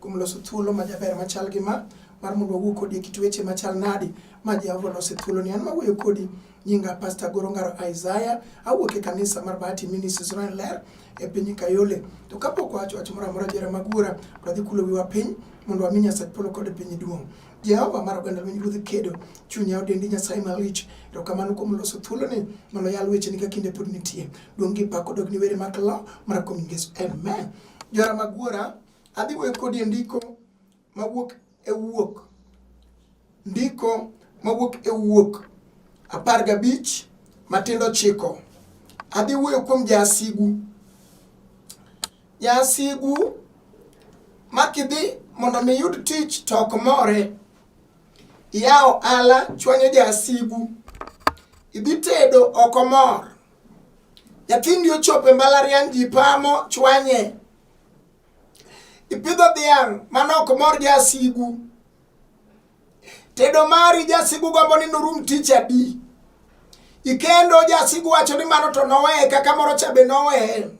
kuom loso thuolo ma jaber machal gi ma mar mondo wawuo kodi e kit weche machal nadi ma Jehova oloso e thuoloni. An mawuoyo kodi nyinga Pastor Goro Ngaro Isaiah, awuok e kanisa mar Bahati Ministries Royal Ler e piny Kayole. To kapok wacho wach moro amora jera mag wuora, to adhi kulo wiwa piny mondo wami Nyasaye polo kod e piny duong'. Jehova mar oganda lweny ruodh kedo, chunya odendi Nyasaye malich. Erokamano kuom loso thuoloni mondo yal weche ni ka kinde pod nitie. Duong' gi pak odog ni were mag law mar kuom Yesu. Amen. Jora mag wuora Adhi wuoyo kodi e ndiko mawuok e wuok ndiko mawuok e wuok apar gabich matindo chiko. Adhi wuoyo kuom jasigu jasigu makidhi mondo mi yud tich to ok more iyawo ala chwanyo jasigu idhi tedo ok omor nyathindi ochopo e mbalariany ji pamo chwanye Ipidho dhiang' manok mor jasigu. Tedo mari jasigu gombo ni norum tich adi. Ikendo jasigu wacho ni mano to noweye kaka moro cha be noweye.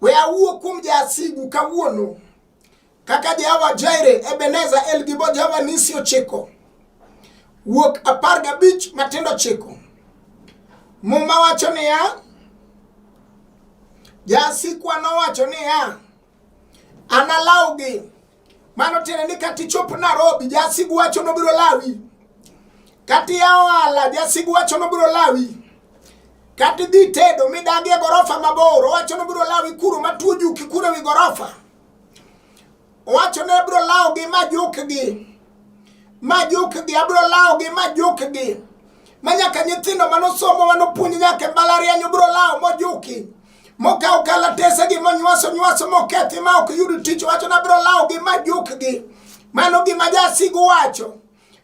We awuo kuom jasigu kawuono. Kaka Jehova Jaire, Ebeneza, El Gibo, Jehova Nisi ochiko. Wuok apar gabich matindo chiko. Muma wacho niya, Jasikwa nowacho niya, analawgi. Mano tiende ni kata ichop Nairobi, jasigu wacho nobiro lawi. Kata ia ohala, jasigu wacho nobiro lawi. Kata idhi tedo midagi e gorofa mabor, owacho nobiro lawi kuro matuo juki kuro ewi gorofa. Owacho ni abiro lawogi ma jukgi, ma jukgi, abiro lawogi ma jukgi. Ma nyaka nyithindo manosomo manopuonj nyaka e mbalariany obiro lawo mojuki mokawo kalatesegi monywaso nywaso mokethi ma ok yud tich wacho ni abiro lawogi ma jukgi. Mano gima jasigu wacho.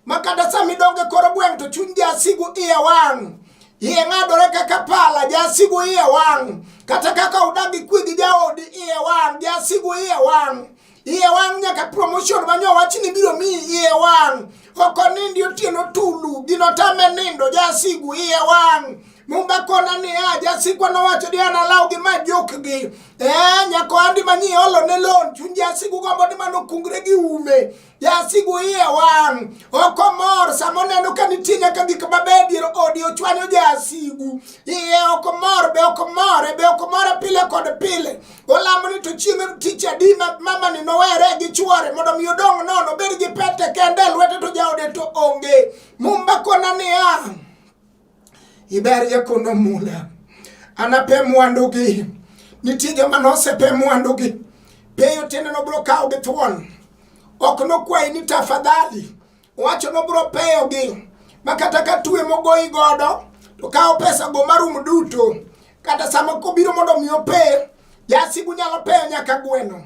ma kata sama idonge koro gweng' to chuny jasigu iye wang' iye ng'adore kaka pala jasigu iye wang' kata kaka udagi kwe gi jaodi iye wang' jasigu iye wang' iye wang' nyaka promotion manyo wachni biro miyi iye wang' ok onindi otieno tulu gino tame nindo jasigu iye wang' mumba kona ni a jasikwa nowacho ni an alaw gi ma jokgi e nyako andi manyi olo ne lon chuny jasigu gombo ni mano kungre gi ume Jasigu iye wang' ok omor sama oneno ka nitie nyaka gik mabeyo dier odi ochwanyo jasigu iye ok omor be ok omore be ok omore pile kod pile olamo ni to chieng' tich adi ma mamani nowere gi chwore mondo mi odong' nono obed gi pete kende lwete to jaode to onge mumba kona niya iberie kono mula anape mwandugi nitie joma nosepe mwandugi peyo tiende nobiro kawo gi thuon ok nokwayi ni tafadhali wacho nobiro peyogi ma kata ka tue mogoyi godo to kawo pesa go marum duto kata sama kobiro mondo mi ope jasigu nyalo peyo nyaka gweno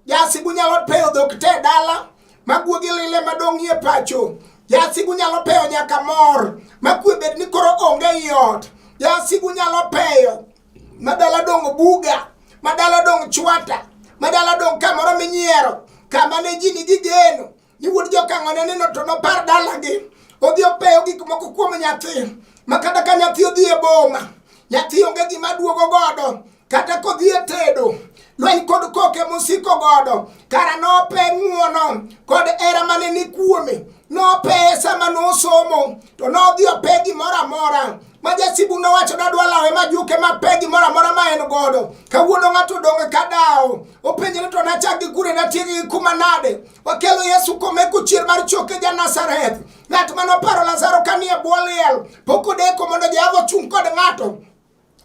Jasigu nyalo peyo dhok te dala maguogi lile madong' e pacho. Jasigu nyalo peyo nyaka mor makwe bed ni koro onge ei ot. Jasigu nyalo peyo madala dong' buga, madala dong' chwata, madala dong' kamoro minyiero, kama ne ji nigi geno, ni wuod jokang'o ne neno to nopar dalagi odhi opeyo gik moko kuom nyathi ma kata ka nyathi odhi e boma nyathi onge gima duogo godo kata kodhi e tedo lweny kod koke mosiko godo kara nope ng'uono kod era mane ni kuome nopeye sama nosomo to nodhi ope gimoro amora ma jasibu nowacho nadwa lawe majuke mape gimoro amora ma en godo kawuono ng'ato odonge ka dawo openjre to nachak gi kure natiegi gi kuma nade Wakelo Yesu kome kuchier mar choke ja Nazareth. Ng'at mane oparo Lazaro kanie bwo liel, pok odeko mondo Jehova ochung' kod ng'ato.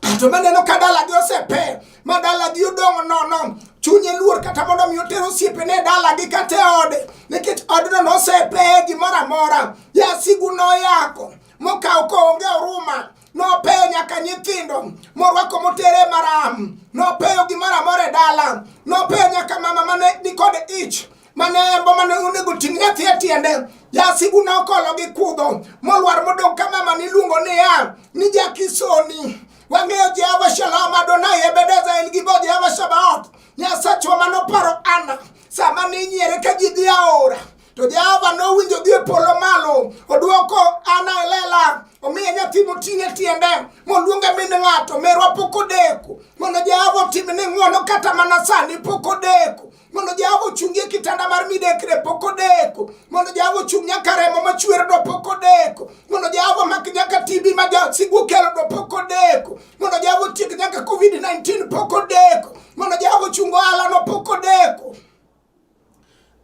Ng'ato maneno ka dalagi osepe, ma dalagi odong' nono, chunye luor kata mondo mi oter osiepene e dalagi kata e ode, nikech odno nosepeye gimoro amora. Jasigu noyako, mokawo koonge oruma. nopeyo nyaka nyithindo morwako motere maram nopeyo gimoro amora e dala nopeyo nyaka mama mane nikod ich mane embo mane onego ting' nyathi e tiende jasigu nokolo gi kudho molwar modong' ka mama niluongo niya ni jakisoni wang'eyo jehova shalom adonai ebedeza en gibo jehova shabaot nyasachwa manoparo ana sama ninyiere ka ji dhi aora To Jehova nowinjo dhi e polo malo, odwoko Ana e lela, omiye nyathi moting' e tiende, moluonge min ng'ato, merwa pok odeko. Mondo Jehova otim ni ng'wono kata mana sani pok odeko. Mondo Jehova ochungi e kitanda mar midekre pok odeko. Mondo Jehova ochung' nyaka remo machwer do pok odeko. Mondo Jehova mak nyaka TB ma jasigu kelo do pok odeko. Mondo Jehova otiek nyaka COVID-19 pok odeko. Mondo Jehova ochung ohala no pok odeko.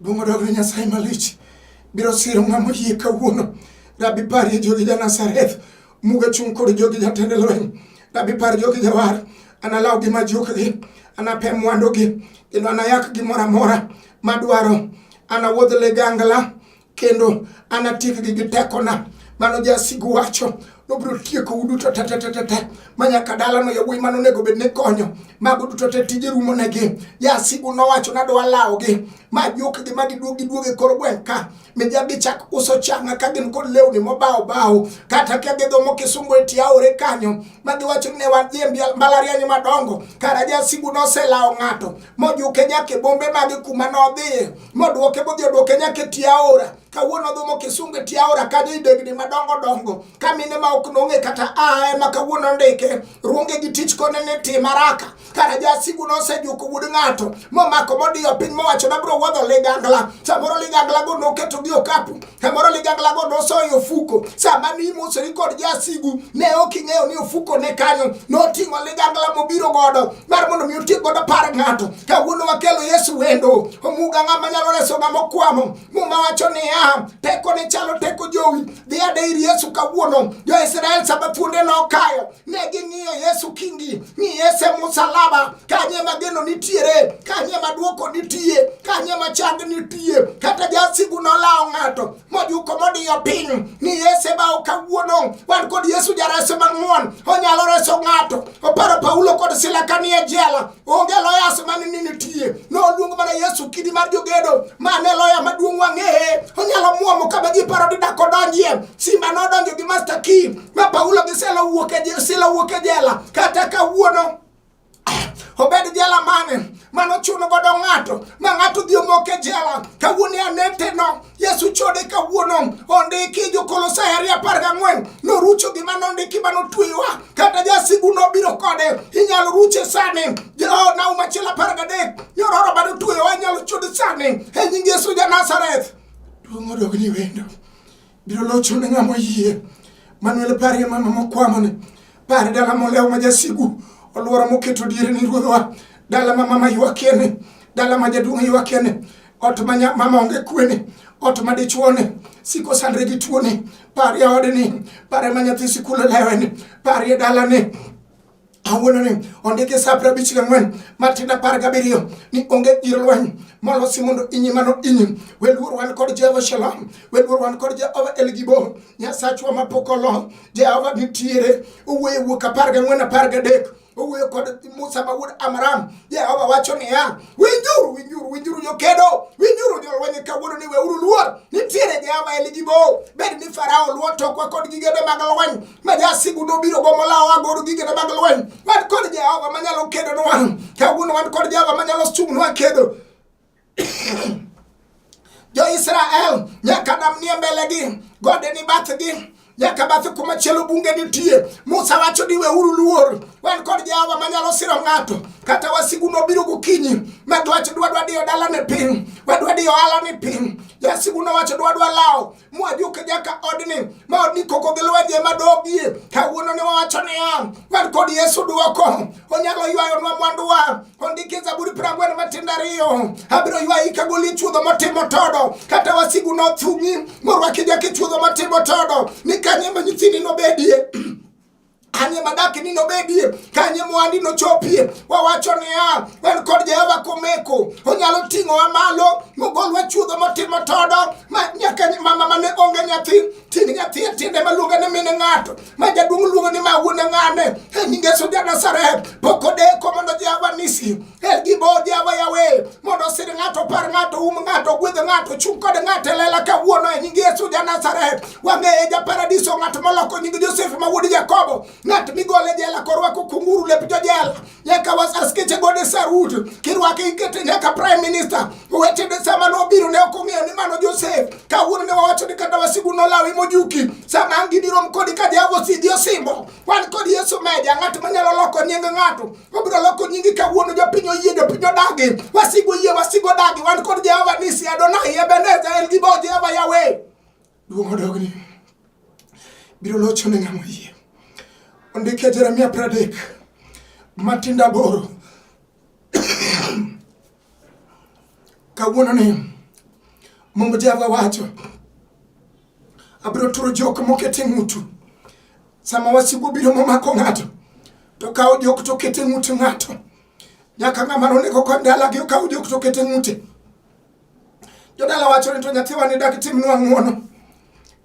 Dongo dog Nyasaye malich biro siro ng'ama oyie kawuono. Rabi parie jogi ja Nazareth, muga chung' kod jogi jatend lweny. Rabi par jogi jawar, analaw gi majukgi, anape mwandugi, kendo anayak gimoro amora madwaro. Anawuodh ligangla kendo anatiekgi gi tekona mano jasigu wacho nobiro tieko u duto tetetetete ma nyaka dalano yawuoyi mano onego bed ni konyo mago duto te tije rumo negi jasigu nowacho nadwa lawogi ma jukgi ma giduog giduog e kor gweng' ka mija gichak uso changa ka gin kod lewni mobawo bawo kata ka gidhomo kisungu e tie aore kanyo ma giwacho ni ne wan dhi e mbalariany madongo kara jasigu noselawo ng'ato mojuke nyaka e bombe mage kuma nodhiye moduoke modhi oduoke nyaka e tie aora kawuono odhumo kisungu e tie aora kanyo i degni madongo dongo ka mine ma ok nong'e kata a ema kawuono ndike ruonge gi tich kone ni tim haraka kara jasigu nosejuko wuod ng'ato momako modiyo piny mowacho nabiro wuodho ligangla samoro liganglago noketogi okapu Kamoro ligangla go nosoyo ofuko sama ni imosori kod jasigu ne ok ing'eyo ni ofuko ne kanyo noting'o ligangla mobiro godo mar mondo mi otiek godo par ng'ato kawuono wakelo Yesu wendo omuga ng'ama nyalo reso ng'ama okwamo muma wacho niya teko ne chalo teko jowi dhi ade ir Yesu kawuono jo-Israel sama thuonde nokayo negi ng'iyo yesu kingi ni yesu e musalaba kanye ma geno nitiere kanye ma dwoko nitie kanye ma chang nitie kata jasigu nolawo ng'ato mojuko modiyo piny ni yesu ebawo kawuono wan kod yesu jareso mang'won onyalo reso ng'ato oparo paulo kod sila kanie jela onge loyas mane ni nitie noluong mana yesu kidi mar jogedo mane loya maduong' wang'eye onyalo mwomo kama ji paro didak odonjie simba nodonjo gi master key ma paulo gi sila wuok e sila wuok e jela kata kawuono obed jela mane mano chuno godo ng'ato ma ng'ato dhi omok e jela kawuono aneteno Yesu chode kawuono ondiki Jokolosai ariyo apar gang'wen norucho gima nondiki ma notweyowa kata jasigu nobiro kode inyalo ruche sani oh, nau machielo apar gadek nyororo ma notweyowa inyalo chode sani e nying Yesu ja Nazareth duong' odog ni wendo biro locho ne ng'ama oyie Manuel parie mama mokwamoni pare dala molewo ma jasigu olworo moketo diere ni ruodhwa dala ma mama ywakieni dala ma jaduong' ywakieni ot ma mama onge kwene ot ma dichuone siko sandre gi tuoni par ya odni pare ma nyathi sikul oleweni par ya dalani awuononi ondiki sa piero abich gang'wen matin apar gabiriyo ni onge gir lweny molosi mondo inyi mano inyi weluor wan kod jehova shalom weluor wan kod jehova elgibo nyasachwa mapok olo jehova nitiere owuoyo wuok apar gang'wen apar gadek owuoyo kod Musa ma wuod Amram. Jehova wacho niya, winjuru, winjuru, winjuru jokedo, winjuru jolweny kawuono ni weuru luor, nitiere Jehova e ligi bo. Bed ni Farao luo tokwa kod gigene mag lweny, ma jasigu nobiro go molawa agoro gigene mag lweny. Wan kod Jehova manyalo kedonwa, kawuono wan kod Jehova manyalo chung'nwa kedo. Jo-Israel nyaka nam nie mbelegi, gode ni bathgi nyaka bathe kuma chielo bunge nitie. Musa wacho ni weuru luor, wan kod Jehova manyalo siro ng'ato. Kata wasigu nobiro gokinyi, ma dwach dwadwa diyo dalane piny, wadwa diyo ohalane piny. Jasigu nowacho dwadwa lawo mwadhi uke nyaka odni ma odni koko gi lwenje madobie kawuono ni wawacho niya wan kod yesu dwoko onyalo ywayonwa mwanduwa ondiki zaburi prang'wen matindo ariyo abiro ywayi kagoli chuodho motimo todo kata wasigu nothung'i morwaki jaki chuodho motimo todo ni kanye ma nyithindi nobedie kanye madaki ni nobedie kanye mwandi nochopie wawacho niya en kod jehova komeko onyalo ting'owa malo mogolwa chuodho motimo todo ma nyaka mama mane onge nyathi ting' nyathi e tiende maluonge ni mine ng'ato ma jaduong' luongo ni ma wuone ng'ane e nyinge suja nasaret pok odeko mondo jehova nisi Her gi bodi awa yawe mondo sir ng'ato par ng'ato um ng'ato gwedh ng'ato chung' kod ng'ato e lela kawuono e nying Yesu ja Nazareth wang'eye ja paradiso ng'at moloko nying Josef ma wuod Jakobo ng'at migole jela korwako kunguru lep jojela nyaka wasar skeche gode sarut kirwake ikete nyaka prime minister weche de sama nobiro ne ok ong'eyo ni mano Josef kawuono ne wawacho ni kata wasigu nolawi mojuki sama angini rom kodi ka jago sidi osimbo wan kod Yesu meja ng'at manyalo loko nying ng'ato Wabiro loko nyingi kawuono jopiny oyie jopiny odagi. Wasigu oyie wasigu odagi. Wan kod Jehova Nisi Adonai Ebeneza El Gibo Jehova Yahweh. Duong' odogni. Biro locho ne ng'ama oyie. Ondike Jeremia pradek. Matinda boro. kawuono ni Mungu Jehova wacho Abiro turo jok moket e ng'utu. Sama wasigu obiro momako ng'ato, to kawo jok to oket e ng'ut ng'ato. Nyaka ng'ama nonego kod dalagi okaw jok to oket e ng'ute. Jodala wacho ni to nyathiwa ni dak timnwa ng'wono.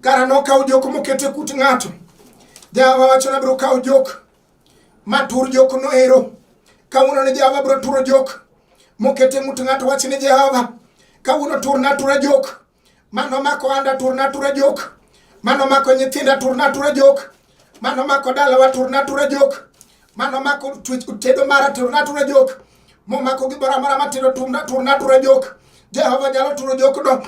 Kara nokaw jok moket e kut ng'ato. Jawa wacho ni abiro kawo jok matur jok noero. Kawuono ni Jawa abiro turo jok moket e ng'ut ng'ato wach ni Jehova. Kawuono turna atura jok Mano mako anda turna tura jok. Mano mako nyithinda turna tura jok. Mano mako dalawa turna tura jok. Mano mako tedo mara turna tura jok. Momako gimoro amora matindo turna tura jok. Jehova nyalo turo jokno.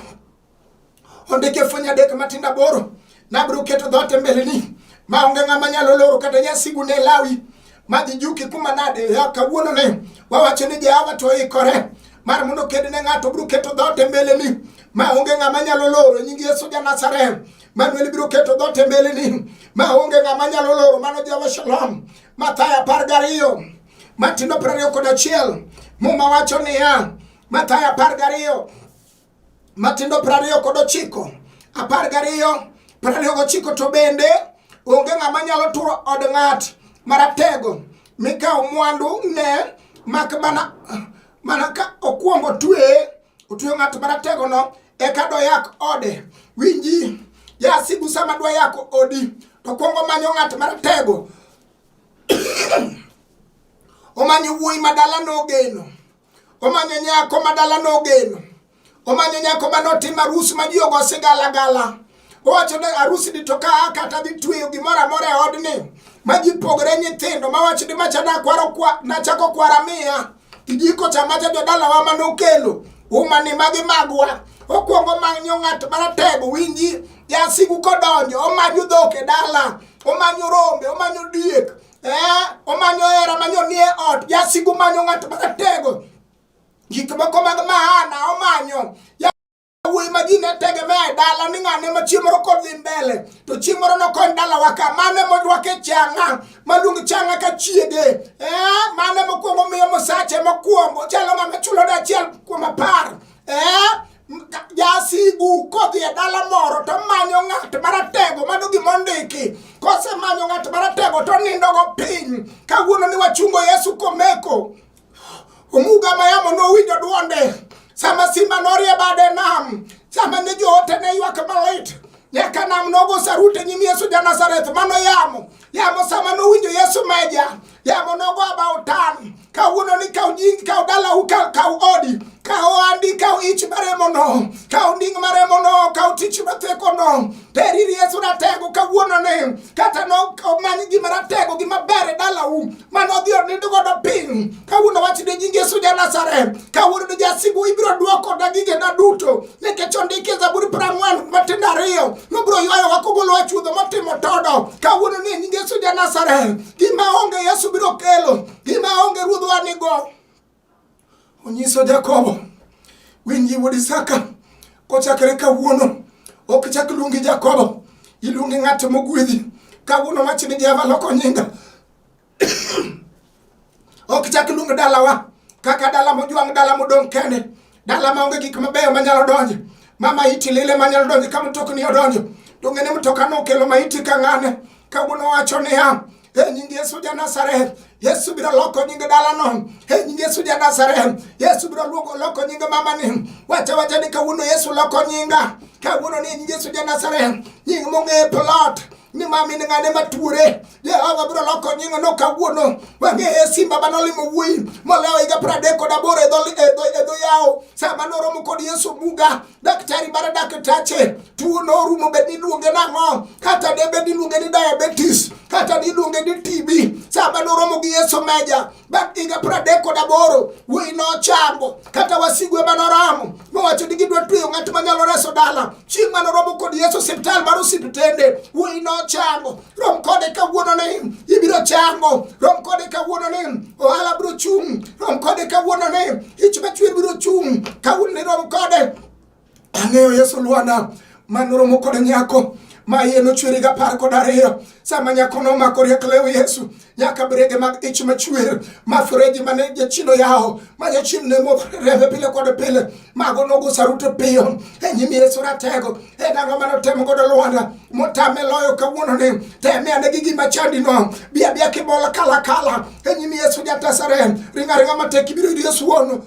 Ondike fweny adek matindo aboro. Nabiro keto dhoot e mbeleni ma onge ng'ama nyalo loro kata jasigu ne lawi madhi juki kuma nade ya kawuono ne wawacho ni Jehova to ikore mar mondo ked ne ng'ato biro keto dhoot e mbeleni ma onge ng'ama nyalo loro nying Yesu ja Nazareth Manuel biro keto dhoot e mbeleni ma onge ng'ama nyalo loro mano Jehova Shalom Mathayo apar gariyo matindo piero ariyo kod achiel muma wacho niya Mathayo apar gariyo matindo piero ariyo kod ochiko apar gariyo piero ariyo gochiko to bende onge ng'ama nyalo turo od ng'at maratego mikawo mwandu ne mak mana mana ka okwongo otweye otweyo ng'at marategono eka doyak ode winji jasigu sama dwa yako odi to kwongo manyo ng'at maratego omanyo wuoyi madala nogeno Omanyo nyako ma dala nogeno. Omanyo nyako ma notimo arus ma ji ogo sigala gala. Owacho ni arus ni to ka kata dhi tweyo gimoro amora e odni ma ji pogre nyithindo ma wacho ni macha nakwaro kwa nachako kwara miya. Kijiko cha macha jodalawa ma nokelo. Umani magi magwa. Okwongo manyo ng'at maratego winji. Jasigu kodonjo omanyo dhok e dala. Omanyo rombe, omanyo diek. Eh, omanyo hera manyo nie ot jasigu manyo ng'at maratego gik moko mag maana omanyo wuoyi ma ji ne tegemea e dala ni ng'ane ma chieng' moro kodhi mbele to chieng' moro nokony dalawa ka mane morwake changa maluong changa ka chiege eh, mane mokwongo miyo mosache mokwongo chalo ng'ama chulo dachiel kuom apar Eh, jasigu kodhi e dala moro to manyo ng'at maratego mano gima ondiki kosemanyo ng'at maratego to nindogo piny kawuono ni wachungo yesu komeko omuga mayamo nowinjo dwonde sama simba norie bade nam sama ne joote ne ywak malit nyaka nam nogo sarute nyim yesu ja nazareth mano yamo yamo sama nowinjo yesu meja Yamo nogo about town. Ka wuono ni ka ujing ka udala u ka ka odi. Ka oandi ka ich maremo no. Ka unding maremo no ka utich mateko no. Teri Yesu na tego ka wuono ne. Kata no ka mani gi maratego gi mabere dala u. Mano dio ni dugo do ping. Ka wuono wachi de jingi Yesu ja Nazareth. Ka wuono de jasigu ibro duoko da gige na duto. Ne ke chondi ke zaburi prangwan matinda riyo. Nubro yoyo wakugolo achudo matimo todo. Ka wuono ni jingi Yesu ja Nazareth. gima onge yesu biro kelo gima onge ruodhwa nigo onyiso jakobo winji wuod isaka kochakre kawuono ok chak luongi jakobo iluongi ng'at mogwedhi kawuono wach ni jehova loko nyinga ok chak luong dalawa kaka dala mojwang' dala modong' kende Dala ma onge gik mabeyo manyalo donjo. Mama iti lile manyalo donjo ka mtokni odonjo. To ng'e ni mtoka nokelo maiti ka ng'ane. Kawuono wacho niya, e nying Yesu ja Nazareth, Yesu biro loko nying dalano. E nying Yesu ja Nazareth, Yesu biro luoko loko nying mamani. Wacha wacha ni kawuono Yesu loko nyinga. Kawuono ni nying Yesu ja Nazareth, nying mong'e plot. ni ma min ng'ane matuore jehova biro loko nyingo no kawuono wang'eye simba mane olimo wuoyi molewo higa piero adek kod aboro e dho e e yawo sama noromo kod yesu buga daktari mar daktache tuo norumo bed niluonge nang'o kata debed niluonge ni diabetes kata niluonge ni tb sama noromo gi yesu meja bang' higa pradek kod aboro wuoyi nochango kata wasigu ema noramo mowacho ni gidwa tweyo ng'at manyalo reso dala chieng' mane oromo kod yesu osiptal mar osiptende wuoyi nochango rom kode kawuono ni ibiro chango rom kode kawuono ni ohala biro chung' rom kode kawuono ni ich machwer biro chung' kawuono ni rom kode Ang'eyo Yesu Lwanda ma noromo kod nyako ma iye nochwere gi apar kod ariyo sama nyako nomako riek lew Yesu nyaka brege mag ich machwer ma fereji mane jachien oyawo ma jachien ne modho rembe pile kod pile mago nogo saruto piyo e nyim Yesu ratego e nang'o mane otemo godo Lwanda motame loyo kawuononi teme ane gi gima chandino bia bia kibola kala kala e nyim Yesu jatasare ringa ringa matek ibiro yudo Yesu wuono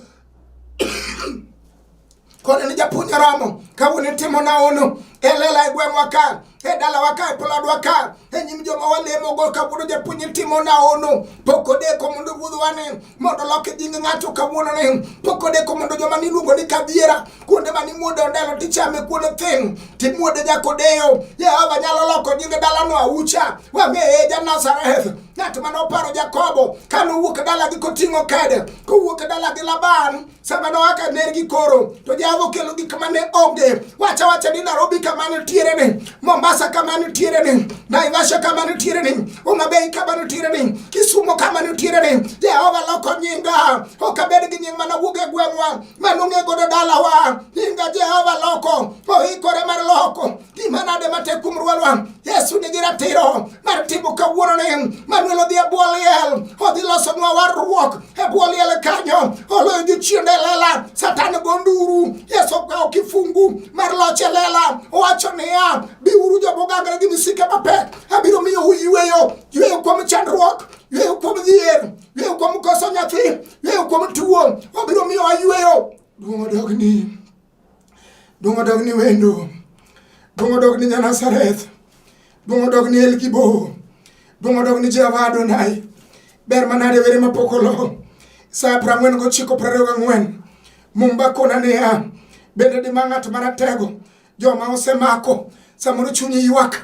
koni ni japuonj romo kawuono itimo naono e lela e gweng'wa ka e dalawa ka e plodwa ka e nyim joma walemogo kawuono japuonj itimo naono pok odeko mondo wuodhwa ni mondo lok e nying ng'ato kawuono ni pok odeko mondo joma niluongo ni kadhiera kuonde ma nimuode ondelo tichame kuonde thin timuode nyakodeyo jehova nyalo loko nying dalano aucha wang'eye ja nazareth ng'at mane oparo jakobo ka nowuok dalagi koting'o kede kowuok dalagi laban sama noaka nergi koro to java okelo gik mane onge wacha wacha ni narobi kama nitiere ni mombasa kama nitiere ni naivasha kama nitiere ni umabei kama nitiere ni kisumo kama nitiere ni jehova loko nyinga ok abed gi nying mana wuog e gweng'wa manong'e godo dalawa nyinga jehova loko oikore mar loko gima nade matek kuom rwalwa yesu nigi ratiro mar timo kawuononi manuel odhi e bwo liel odhi losonwa warruok e bwo liel kanyo oloyo jochiende lela satan go nduru yesu okawo kifungu mar loch e lela owacho niya biuru jomogangre gi misike mapek abiro miyo uyweyo yweyo kuom chandruok yweyo kuom dhier yweyo kuom koso nyathi yweyo kuom tuwo obiro miyo ayweyo duong' odogni Duong' odog ni wendo. Duong' odog ni Nyanasareth. Duong' odog ni Elgibo. Duong' odog ni Jehova Adonai. Ber manade were mapok olo. Sa piero ang'wen gochiko piero ariyo gang'wen. Mumba kona niya, bende dima ng'at maratego joma osemako samoro chunyi ywak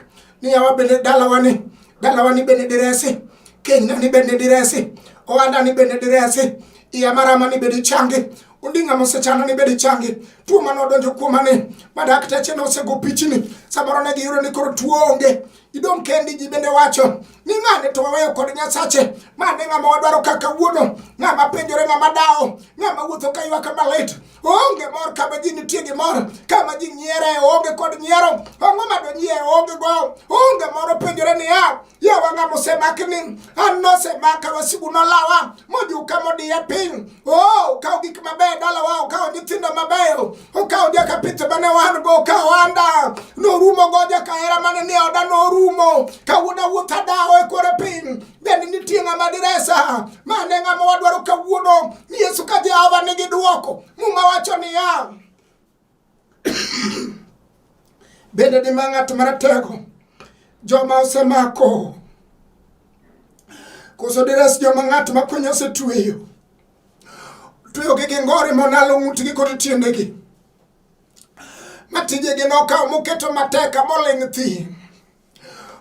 ni yawa bende dalawani dalawani bende diresi kenyna ni bende diresi ohanda ni bende diresi iya marama ni bende changi Odinga mosechano ni bedi changi tuo mane odonjo kuoma ni ma dakteche ne osego pichni samoro ne giyudo ni koro tuo onge idong' kendi ji bende wacho ni ng'ane to waweyo kod nyasache ma ne ng'ama wadwaro kaka wuono ng'ama penjore ng'ama dawo ng'ama wuotho ka ywaka malit onge mor kama ji nitie gi mor kama ji nyiere onge kod nyiero ang'o ma donyie onge go onge moro penjore niya yewanga mosemakni an nosemaka wasigu nolawa mojuka modiya piny o oh, okawo gik mabeyo dalawa okawo nyithindo mabeyo okawo jakapith mane wan go okawo anda norumo go jakahera mane ni oda norumo kawuoda wuoth adawo e kore piny bende nitie ng'ama diresa mane ng'ama wadwaro kawuono yesu ka jehova nigi dwoko muma wacho niya Bende dima ng'at maratego joma osemako koso deres joma ng'at makonyo osetweyo tweyogi gi ngori monalo ng'utgi kod tiendegi ma tijegi nokawo moketo mateka moling' thi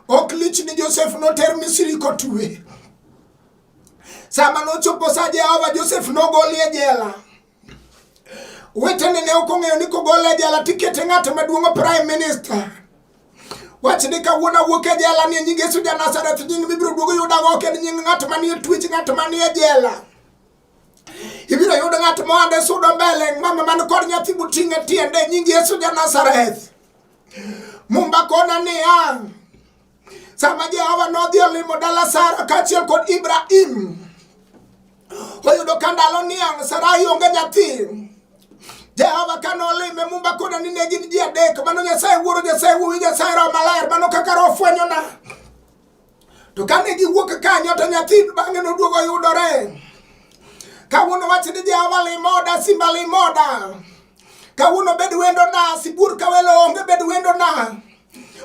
ok lich ni josef noter misiri kotwe sama nochopo sa jehova josef nogoli e jela Wetene ne ok ong'eyo ni kogol e jela tikete ng'at maduong' prime minister. Wach ni kawuono awuok e jela ni nying Yesu ja Nazareth nying mibiro duogo yuda go ok en nying ng'at manie twech ng'at manie jela. Ibiro yudo ng'at mohande sudo mbele mama man kod nyathi buting'e tiende nying Yesu ja Nazareth. Mumba kona ni ang' Sama Jehova nodhi olimo dala Sara kaachiel kod Ibrahim, oyudo ka ndalo niang' Sarai onge nyathi. Jehova kane olime mumba koda ni ne gin ji adek, mano Nyasaye Wuoro, Nyasaye Wuowi, Nyasaye Roho Maler, mano kaka Roho fwenyona. To kane giwuok kanyo to nyathi bang'e noduogo yudore. Kawuono wach ni Jehova limoda, simba limoda. Kawuono bed wendona, sibuor ka welo onge bed wendona.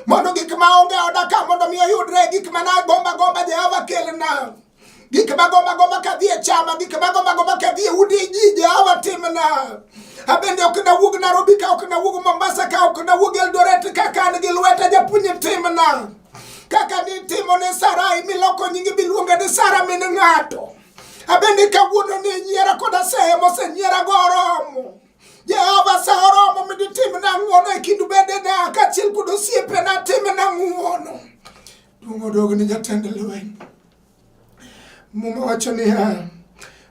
mondo gik ma onge oda ka mondo mi oyudre gik ma nagomba gomba Jehova kelna gik ma gomba gomba ka dhi e chama gik ma gomba gomba ka dhi e udi ji Jehova timna abende ok nawuog Nairobi ka ok nawuog Mombasa ka ok nawuog Eldoret kaka an gi lweta japuonj timna kaka nitimo ne Sarai miloko nyingi biluonga ni Sara min ng'ato abende kawuono ni nyiera koda sehe mosenyiera go oromo Jehova sahoromo miditimna ng'wono e kindu bedena kaachiel kod osiepena timna ng'wono. Duong' odog ni jatend lweny. Muma wacho niya,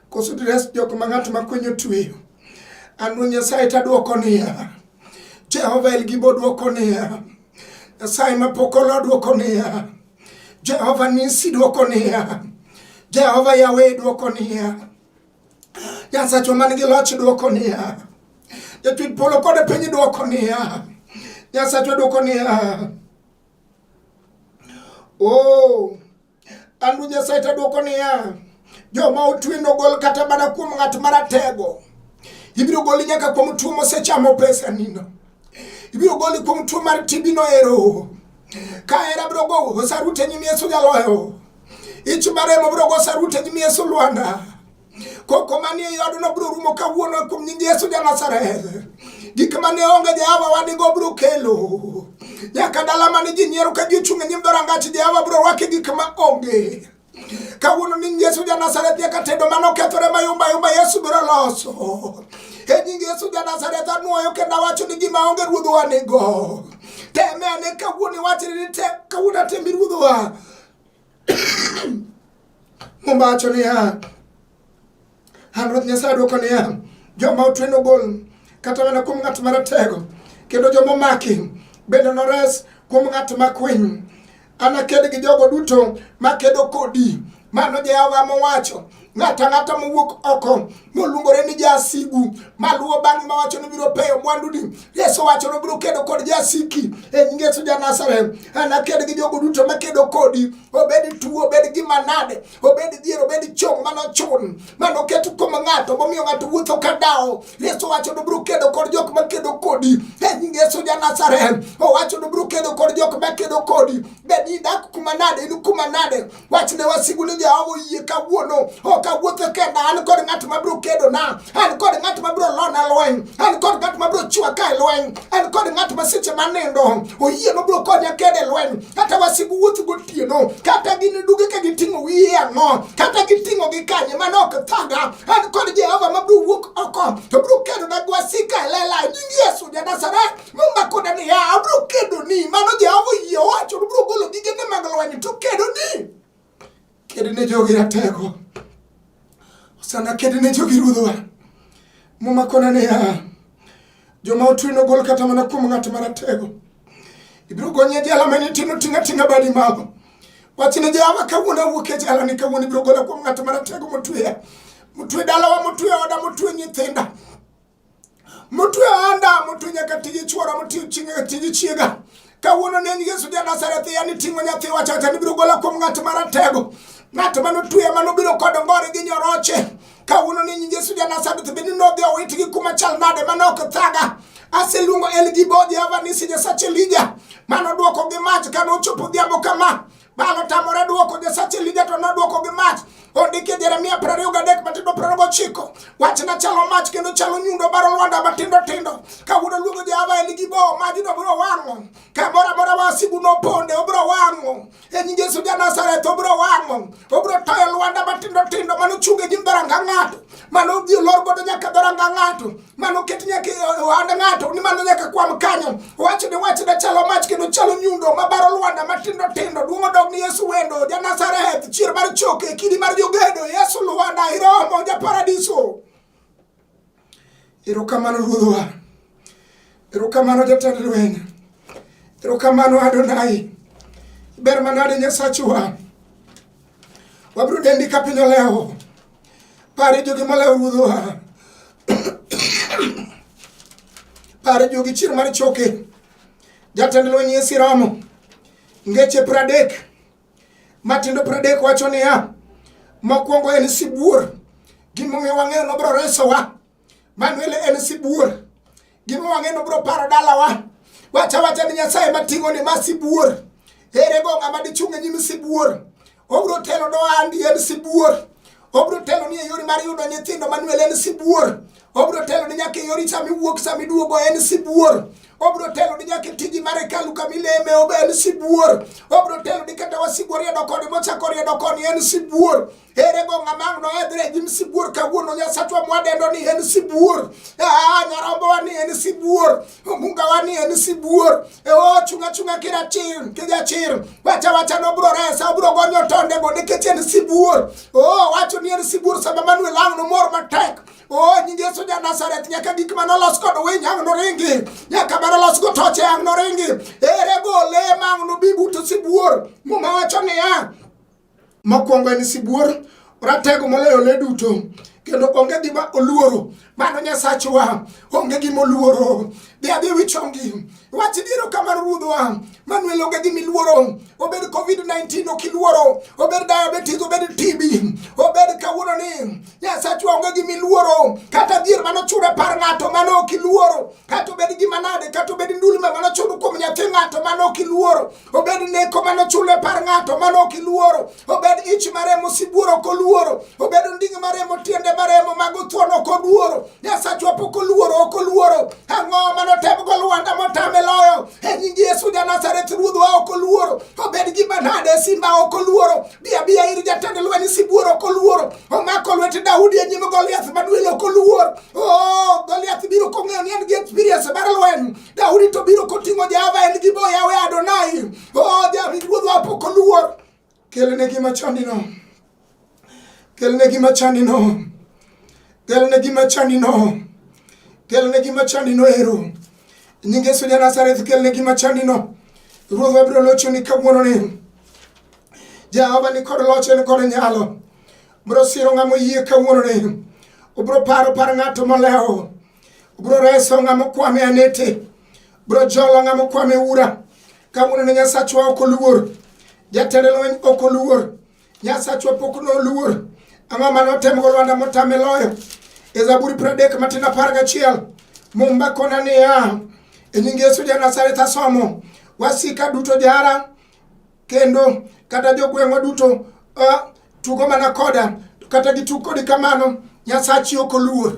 koso dires jok ma ng'at ma kweny otweyo. An Ruoth Nyasaye tadwoko niya, Jehova El Gibo dwoko niya, Nyasaye ma pok olo dwoko niya, Jehova Nisi dwoko niya, Jehova Yahweh dwoko niya, Nyasacho man gi loch dwoko niya, jatwit polo kod piny dwoko niya, Nyasacho dwoko niya, o oh, andu Nyasaye ta dwoko niya, joma otwe nogol kata mana kuom ng'at maratego, ibiro goli nyaka kuom tuo mosechamo pesa nino, ibiro goli kuom tuo mar tibino ero, ka era biro go osarute nyimi Yesu jaloyo ichimaremo biro gosa rute nyimi yesu lwanda koko manie yodno biro rumo kawuono kuom nying yesu ja nazareth gik mane onge jehova wadigo biro kelo nyaka dala mane ji nyiero ka ji ochung' e nyim dhorangach jehova biro rwake gik ma onge kawuono ni yesu ja nazareth nyaka tedo mane okethore mayumbayumba yesu biro loso e nying yesu ja nazareth anwoyo kendo awacho ni gima onge ruodhowa nigo teme ane kawuono iwachni ni kawuono atemi ruodhowa Muma wacho niya, an Ruoth Nyasaye adwoko niya, joma otwe nogol kata mana kuom ng'at maratego, kendo joma omaki bende nores kuom ng'at makwiny. Anaked gi jogo duto makedo kodi, mano Jehova mowacho. ng'ato ang'ata mowuok oko moluongore ni jasigu maluwo bang'e mawacho ni biro peyo mwanduni yesu wacho ni biro kedo kod jasiki e nying yesu ja nazareth anaked gi jogo duto makedo kodi obed tuo obed gima nade obed dhier obed chong manochun manoket kuom ng'ato momiyo ng'ato wuotho ka dawo yesu wacho ni biro kedo kod jok makedo kodi e nying yesu ja nazareth owacho ni biro kedo kod jok makedo kodi bed idak kuma nade in kuma nade wach ne wasigu ni Jehova oyie kawuono ok awuotho kenda an kod ng'at ma biro kedona an kod ng'at ma biro lona lweny an kod ng'at ma biro chwa ka e lweny an kod ng'at ma seche ma nindo oyie no biro konya kede e lweny kata wasigu wuotho gotieno kata gin duge ka giting'o wiye ang'o kata giting'o gi kanye mano ok thaga an kod Jehova ma biro wuok oko to biro kedona gi wasika e lela nying Yesu ja Nazareth momako dani ya abro kedo ni mano jehova oyie owacho nobro golo gigene mag lweny to kedo ni kedo ne jogi ratego osana kedo ne jogi ruodhwa momakona ni ya joma otwe nogol kata mana kuom ng'at maratego ibiro gonye jela mane tino tinga tinga badi mago wachne jehova kawuono awuok e jela ni kawuono ibiro gola kuom ng'at maratego motweya motwe dalawa motwe oda motwe nyithinda motwe anda motwe nyaka tiji chwora motwe nyaka tiji chiega kawuono ne en yesu ja nasareth ya ni ting'o nyathi wachacha nibiro gola kuom ng'at maratego ng'at ma notweya ma nobiro kod ngore gi nyoroche kawuono ne nying yesu ja nasareth bende nodhi owitgi kuma chal nade ma nok thaga aseluongo elgibo jehova nisi nyasache lija ma nodwoko gi mach ka nochopo odhiambo kama Baal otamore dwoko, Nyasach Elija to nodwoko gi mach. Ondiki e Jeremia piero ariyo gadek matindo piero ariyo gochiko. Wachna chalo mach kendo chalo nyundo baro lwanda matindo tindo. Kawuono luongo Jehova en gi bo, majno biro wang'o. Kamoro amora wasigu noponde, obiro wang'o. E nying Yesu ja Nazareth, obiro wang'o. Obiro toyo lwanda matindo tindo manochung e nyim dhoranga ng'ato. Mano odhi olor godo nyaka dhoranga ng'ato. mano ket nyaka ohand ng'ato ni mano nyaka kwam kanyo wachne wachne chalo mach kendo chalo nyundo mabaro lwanda matindo tindo duong' odog ni yesu wendo janazareth chier mar choke kidi mar jogedo yesu lwanda iromo japaradiso erokamano ruodhwa erokamano jatend lweny erokamano adonai ber manade nyasachwa wabiro dendi ka piny olewo Pare jogi malayo ruodho ha. Pare jogi chier mar choke. Jatend lweny e siramo. Ngeche pradek. Matindo pradek wacho niya. Mokwongo en sibuor. Gimomiyo wang'eyo nobro resowa. Manuel en sibuor. Gima wang'e no bro paro dalawa. Wacha wacha ni Nyasaye mating'o ni ma sibuor. Ere go ng'ama dichung' e nyim sibuor. Obro telo do andi en sibuor. Obro telo ni e yori mar yudo nyithindo Manuel en sibuor. Obro telo ni nyaka e yori sami wuok sami duogo en sibuor. Obro telo ni nyaka e tiji mar hekalu kama ileme ob en sibuor. Obro telo ni kata wasigu oriedo koni mochako oriedo koni en sibuor. ere go ng'ama ang' noedhre e nyim sibuor kawuono nyasachwa mwadendo ni en sibuor aa nyarombowa ni en sibuor omungawa ni en sibuor e o chunga chunga kira chir kija chir wacha wacha nobro resa obro gonyo tonde go nikech en sibuor o wacho ni en sibuor sama manuel ang' nomor matek o nying yesu ja nazareth nyaka gik ma nolos kod winy ang' noringi nyaka ma nolos go toche ang' noringi ere go le ma ang' nobi buto sibuor muma wacho niya Mokwongo en sibuor, ratego moloyo le duto kendo onge gima oluoro mano nyasachwa onge gima oluoro dhi adhi wichongi wach diero kamar ruodhwa manuel onge gima iluoro obed covid-19 ok iluoro obed diabetes obed tb obed kawuono ni nyasachwa onge gima iluoro kata dhier mano chura par ng'ato mano ok iluoro kata obed gima nade kata obed ndulme mano churu kuom nyathi ng'ato mano ok iluoro obed neko mane ochule par ng'ato mane ok iluoro obed ich maremo sibuoro ok oluoro obed onding' maremo tiende maremo mago thuon ok oluoro nyasachwa pok oluoro ok oluoro ang'o mane otemgo lwanda motame loyo e nying yesu janazareth ruodhwa ok oluoro obed gima nade simba ok oluoro biabiya ir jatend lweny sibuoro ok oluoro omako lwete daudi e nyim goliath maduel ok oluor o oh, goliath biro kong'eyo ni en gi experience mar lweny Daudi to biro koting'o Jehova en gi boya we Adonai. Oh, Daudi ruodhwa pok oluor. Kelne gima chandino. Kelne gima chandino. Kelne gima chandino. Kelne gima chandino ero. Nying Yesu ja Nazareth kelne gima chandino. Ruodhwa biro locho ni kawuono ni. Jehova ni kod loch en kod nyalo. Biro siro ng'ama oyie kawuono ni. Obiro paro par ng'ato molewo. Bro reso ng'ama okwame anete. Bro jolo ng'ama okwame ura. Kawuono ne Nyasachwa ok oluor. Jatend lweny ok oluor. Nyasachwa pok noluor. Ang'o ma notemogo Lwanda motame loyo? E Zaburi pradek matin apar gachiel. Mumba kona niya, e nying Yesu ja Nazareth asomo, wasika duto jara kendo kata jogweng'wa duto uh, tugo mana koda to kata gitug kodi kamano nyasachi ok oluor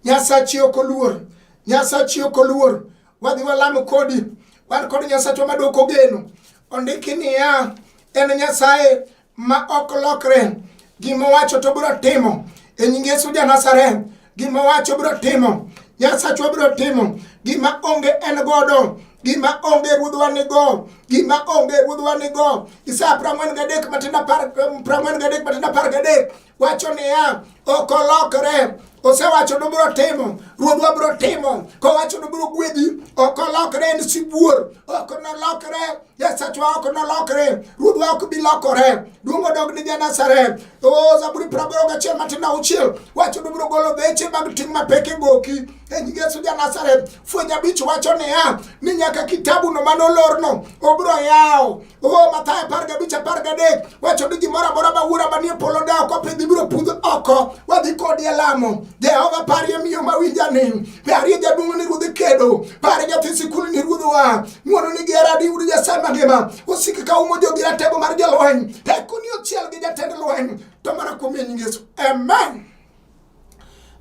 nyasachi ok oluor nyasachi ok oluor wadhi walamo kodi wan kod nyasachwa madwoko ogeno ondiki niya en nyasaye ma ok lokre gima owacho to biro timo e nying yesu ja nazareth gima wacho biro timo nyasachwa biro timo gima onge en godo gima onge ruodhwa nigo gima onge ruodhwa nigo isaya prang'wen gadek matindo apar prang'wen gadek matindo apar gadek wacho niya ok olokre osewacho nobiro timo ruodhwa biro timo kowacho nobiro gwedhi ok olokre en sibuor ok nolokre Nyasacha ok nolokre, ruodhwa ok bi lokore. Duong' odog ni Janazareth. O Zaburi praboro gachiel matindo auchiel wacho ni biro golo beche mag ting' mapek e goki. E nying Yesu Janazareth, fweny abich wacho niya ni nyaka kitabuno mane olorno obiro yawo. O Mathayo apar gabich apar gadek wacho ni gimoro amora ma wuora manie polo da ok opidhi biro pudh oko. Wadhi kodi e lamo. Jehova parie miyo mawinja ni, parie jaduong' ni ruodh kedo, parie nyathi sikul ni ruodhwa. Ng'wono nigi hera diyud Nyasaye mangima. Osik ka umo jogi ratego mar jolweny. Teko ni ochiel gi jatend lweny. To mana kuom nying Yesu. Amen.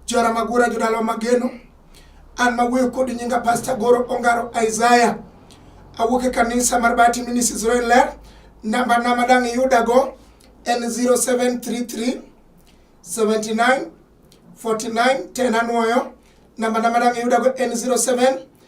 Jora magura jodalo mageno. An mawuoyo kod nyinga Pastor Goro Ongaro Isaiah. Awuok e kanisa mar Bati Ministries Royal Ler. Namba na madang' iyudago en 0733 79 49 10 anwoyo. Namba na madang' iyudago en 07